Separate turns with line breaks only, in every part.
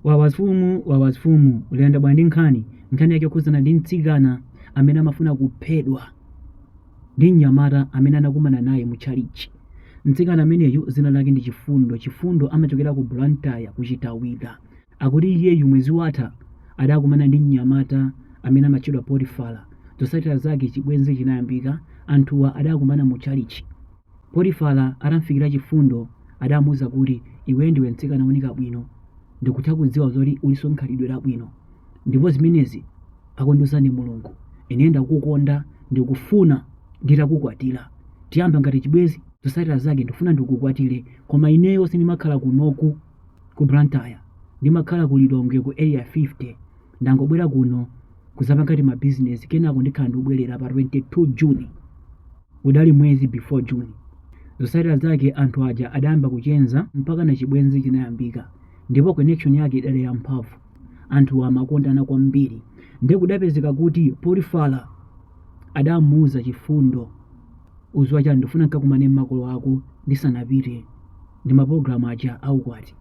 Wawasfumu wawasfumu ikuyenda bwa ndi nkhani nkhani yake yokhuzana ndi mtsikana amene amafuna kuphedwa ndi mnyamata amene anakumana naye mu chalichi mtsikana ameneyu dzina lake ndi chifundo chifundo amachokera ku blantyre ku Chitawira akuti iyeyu mwezi watha adakumana ndi mnyamata amene amatchedwa potifala zotsatira zake chibwenzi chinayambika anthuwa adakumana mu chalichi Potifala atamufikira chifundo adamuuza kuti, Iweyo ndiwe mtsikana wooneka bwino. Ndikutha kudziwa zoti ulinso ndi khalidwe labwino. Ndipo zimenezi akundiuza ndi Mulungu. Ineyo ndakukonda, ndikufuna nditakukwatira. Tiyamba ngati chibwenzi? Zotsatira zake ndikufuna ndikukwatire, koma ineyo sindimakhala kunoku ku Blantyre. Ndimakhala ku Lilongwe ku Area 50. Ndangobwera kuno kudzapanga timabizinesi kenako ndikhala ndikubwerera pa 22 June. Udali mwezi before June. Zotsatira zake anthu aja adayamba kucheza mpakana chibwenzi chinayambika ndipo connection yake idali yamphamvu. Anthuwa amakondana kwambiri. Nde kudapezeka kuti Potifala adamuuza Chifundo, Udziwa chani, ndikufuna nkakumane ndi makolo ako ndisanapite ndi mapologalamu aja a ukwati.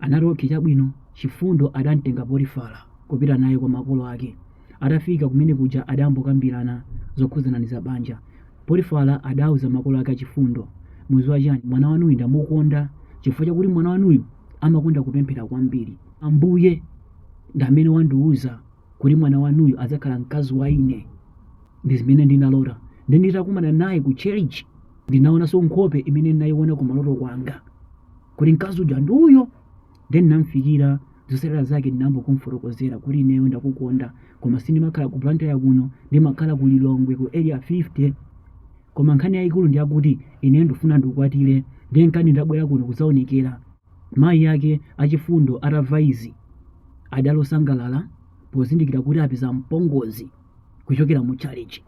Anati okay chabwino. Chifundo adamtenga Potifala kupita naye kwa makolo ake. Atafika kumene kuja adayamba kukambirana zokhudzana ndi za banja. Potifala adauza makolo ake a Chifundo, mudziwa chani, mwana wanuyu ndamukonda chifukwa chakuti mwana wanuyu amakonda kupemphera kwambiri. Ambuye ndi amene wandiuza kuti mwana wanuyu adzakhala mkazi wa ine, ndi zimene ndinalota. Nde nditakumana naye ku church ndinaonanso nkhope imene ndinayiona kumaloto kwanga kuti mkazi uja ndi uyo. then ndinamufikira zotsatira zake ndinayamba kumfotokozera kuti ineyo ndakukonda koma sindimakhala ku blantyre kuno ndimakhala ku lilongwe ku area 50 koma nkhani yayikulu ndi yakuti ineyo ndifuna ndikukwatire nde nkhani ndabwera kuno kudzaonekera mayi ake a Chifundo atamva izi adali osangalala pozindikira kuti apeza mpongozi kuchokera mu chalichi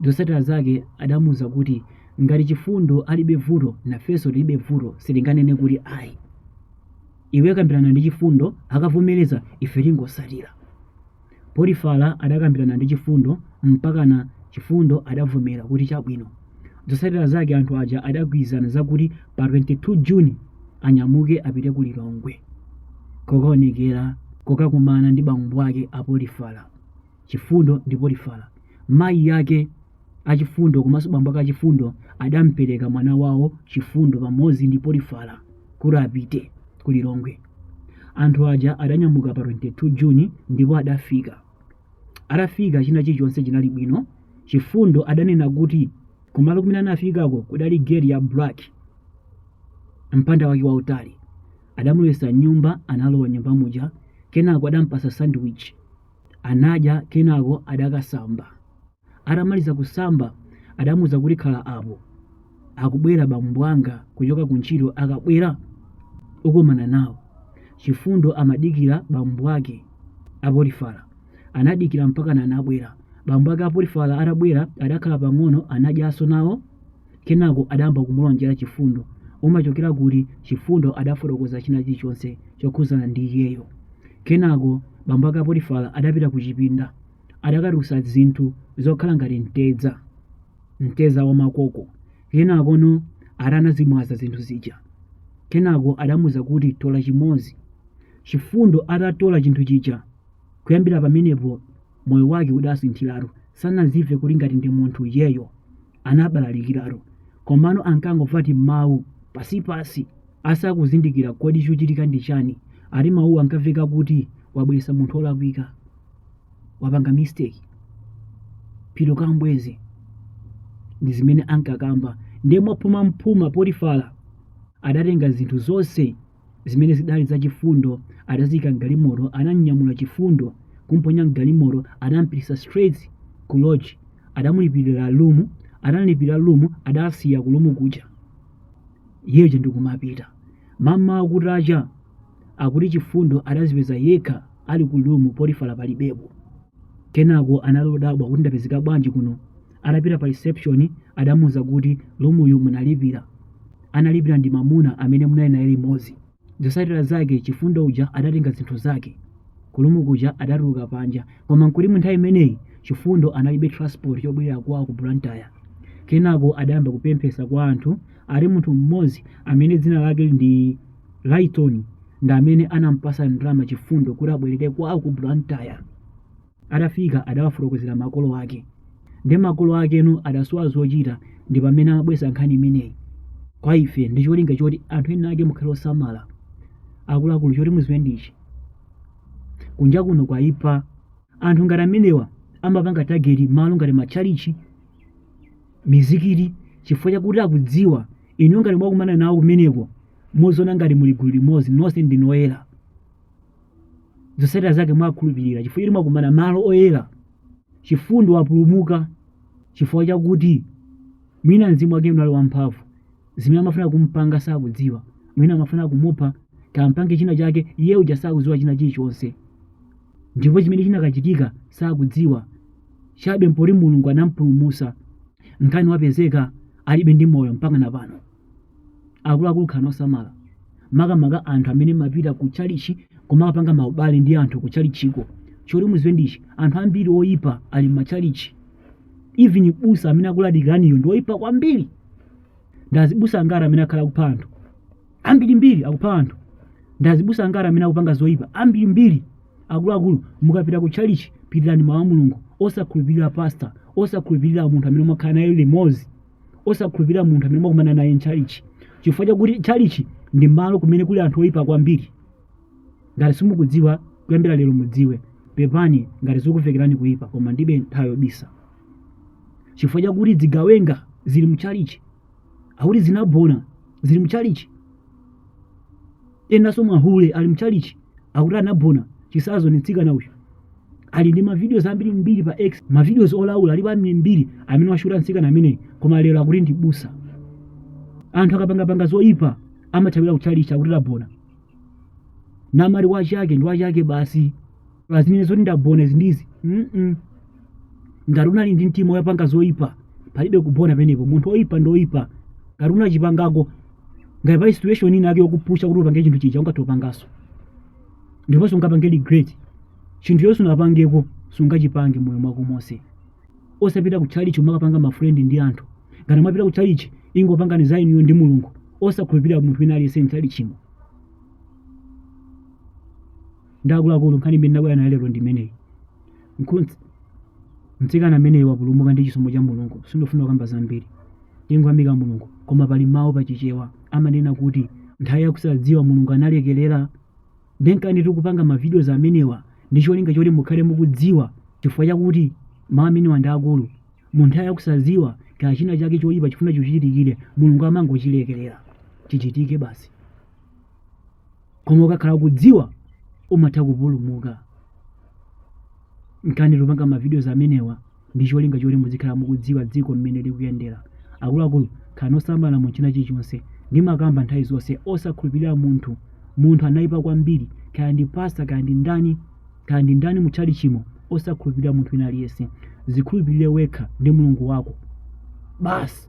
Zotsatira zake adamuuza kuti ngati Chifundo alibe vuto nafenso tilibe vuto sitinganene kuti ayi. Iwe kambirana ndi Chifundo akavomereza ife tingotsatira. Potifala adakambirana ndi Chifundo mpakana Chifundo adavomera kuti chabwino. Zotsatira zake anthu aja adagwirizana zakuti pa 22 June anyamuke apite ku Lilongwe kokaonekera kokakumana ndi bambo ake a Potifala. chifundo ndi potifara mayi ake achifundo komanso bambo ake achifundo adampereka mwana wawo chifundo pamodzi ndi potifara kuti apite ku lilongwe anthu aja adanyamuka pa 22 juni ndipo adafika atafika china chilichonse chinali bwino chifundo adanena kuti kumalo kumene anafikako kudali gate ya black mpanda wake wautali adamulowetsa mnyumba analowa mnyumba muja kenako adampasa sandwich Anadya kenako adakasamba. Atamaliza kusamba adamuuza kuti khala apo, akubwera bambo anga kuchoka kuntchito akabwera ukumana nawo. Chifundo amadikira bambo ake a Potifara. Anadikira mpakana anabwera. Bambo ake a Potifara atabwera adakhala pang'ono anadyanso nawo. Kenako adayamba kumulonjera Chifundo. Umachokera kuti? Chifundo adafotokoza china chilichonse chokhudzana ndi iyeyo. Kenako bambo ake a Potifara adapita kuchipinda. Adakatulutsa zinthu zokhala ngati mtedza, mtedza wamakoko. Kenakono ati anazimwaza zinthu zija. Kenako adamuuza kuti, Tola chimodzi. Chifundo atatola chinthu chija, kuyambira pamenepo moyo wake udasinthiratu. Sanadzimve kuti ngati ndi munthu iyeyo. anabalalikiratu komano ankangomva timawu pansipansi asakuzindikira kodi chochitika ndi chani ati mawuwo ankamveka kuti wabweresa munthu wolakwika wapanga mistake pita kambweze ndi zimene ankakamba ndiye mwaphuma mphuma potifara adatenga zinthu zonse zimene zidali za chifundo adaziyika mgalimoto anamnyamula chifundo kumponya mgalimoto anampititsa straight ku lodge adamulipirira lumu anamlipirira lumu adamsiya kulumu kuja iyeyo ndikumapita mmawa kutacha akuti chifundo adazipeza yekha ali ku lumu potifara palibepo kenako anangodabwa kuti ndapezeka bwanji kuno atapita pa reception adamuuza kuti lumuyu munalipira analipira ndi mamuna amene munali naye limodzi zotsatira zake chifundo uja adatenga zinthu zake kulumu kuja adatuluka panja koma nkuti mu nthawi imeneyi chifundo analibe transport chobwerera kwawo ku blantyre kenako adayamba kupemphesa kwa anthu ati munthu mmodzi amene dzina lake ndi lighton ndi amene anampasa ndalama chifundo kuti abwerere kwawo ku blantyre atafika adawafotokozera makolo ake ndi makolo akewo adasowa zochita ndi pamene amabweretsa nkhani imeneyi kwa ife ndi cholinga choti anthu ena ake mukhale osamala akuluakulu choti muziwe ndichi kunja kuno kwaipa anthu ngati amenewa amapanga tageti malo ngati matchalichi mizikiti chifukwa chakuti akudziwa inu ngati mwakumana nawo kumeneko muziona ngati muli gulu limodzi nonse ndinu oyera zotsatira zake mwakhulupirira chifukwa choti mwakumana malo oyera chifundo wapulumuka chifukwa chakuti mwina mzimu wake unali wamphamvu zimene amafuna kumpanga sakudziwa mwina amafuna kumupha kampange china chake iye uja sakudziwa china chilichonse ndipo chimene chinakachitika sakudziwa chabe mpoti mulungu anampulumusa nkani wapezeka adakalibe ndi moyo mpaka na pano akuluakulu khalani osamala makamaka anthu amene mumapita ku chalichi kumakapanga maubale ndi anthu ku chalichiko choti muziwe ndichi anthu ambiri oyipa ali mmachalichi even busa amene akulalikiraniyo ndi oyipa kwambiri ndi azibusa angati amene akhala akupha anthu ambirimbiri akupha anthu ndi azibusa angati amene akupanga zoyipa ambirimbiri akuluakulu mukapita ku chalichi pitirani mawu a mulungu osakhulupirira pasta osakhulupirira munthu amene mwakhala naye limodzi osakhulupirira munthu amene mwakumana naye mchalichi chifukwa chakuti chalichi ndi malo kumene kuli anthu oyipa kwambiri ngati simukudziwa kuyambira lero mudziwe pepani ngati zikumvekerani kuyipa koma ndibe nthawi yobisa chifukwa chakuti zigawenga zili mchalichi akuti zinabona zili mchalichi enanso mahule ali mchalichi akuti anabona chitsanzo ndi mtsikana uyu ali ndi mavideos ambiri mbiri pa x mavideos olaula alipo ambiri mbiri amene washuta mtsikana ameneyi koma lero akuti ndi mbusa anthu akapangapanga zoyipa amathawira kuchalichi akuti anabona namali wachake ndi wachake basi pa zimene zoti ndabona izi ndizi mm ngati unali ndi mtima wopanga zoyipa palibe kubona penepo munthu woyipa ndi woyipa ngati unachipangako ngati pali situation ina yake yokupusha kuti upange chinthu chija ungathe upangaso ndiponso ungapange regret chinthu choti sunapangeko sungachipange moyo mwako monse osapita ku chalichi kumakapanga mafrendi ndi anthu ngati mwapita ku chalichi ingopangani za inuyo ndi mulungu osakhulupirira munthu wina aliyense mchalichimo ndi akuluakulu nkhani imene ndabwera nayo lero ndi imeneyi mtsikana ameneyi wapulumuka ndi chisomo cha mulungu sindifuna kukamba zambiri tingoyamika mulungu koma pali mawu pa chichewa amanena kuti nthawi yakusadziwa mulungu analekerera ndenkani tikupanga mavidios amenewa ndi cholinga choti mukhale mukudziwa chifukwa chakuti mawu amenewa ndi akulu mu nthawi yakusadziwa kaya china chake choyipa chikufuna chichitike mulungu amangochilekerera chichitike basi koma ukakhala ukudziwa umatha kupulumuka nkani tikupanga mavidios amenewa ndi cholinga choti muzikhala mukudziwa dziko mmene likuyendera akuluakulu khalani osamala mu china chilichonse ndimakamba nthawi zonse osakhulupirira munthu munthu anayipa kwambiri kaya ndi pasta kaya ndi ndani kaya ndi ndani mu tchalichimo osakhulupirira munthu wina aliyense zikhulupirire wekha ndi mulungu wako basi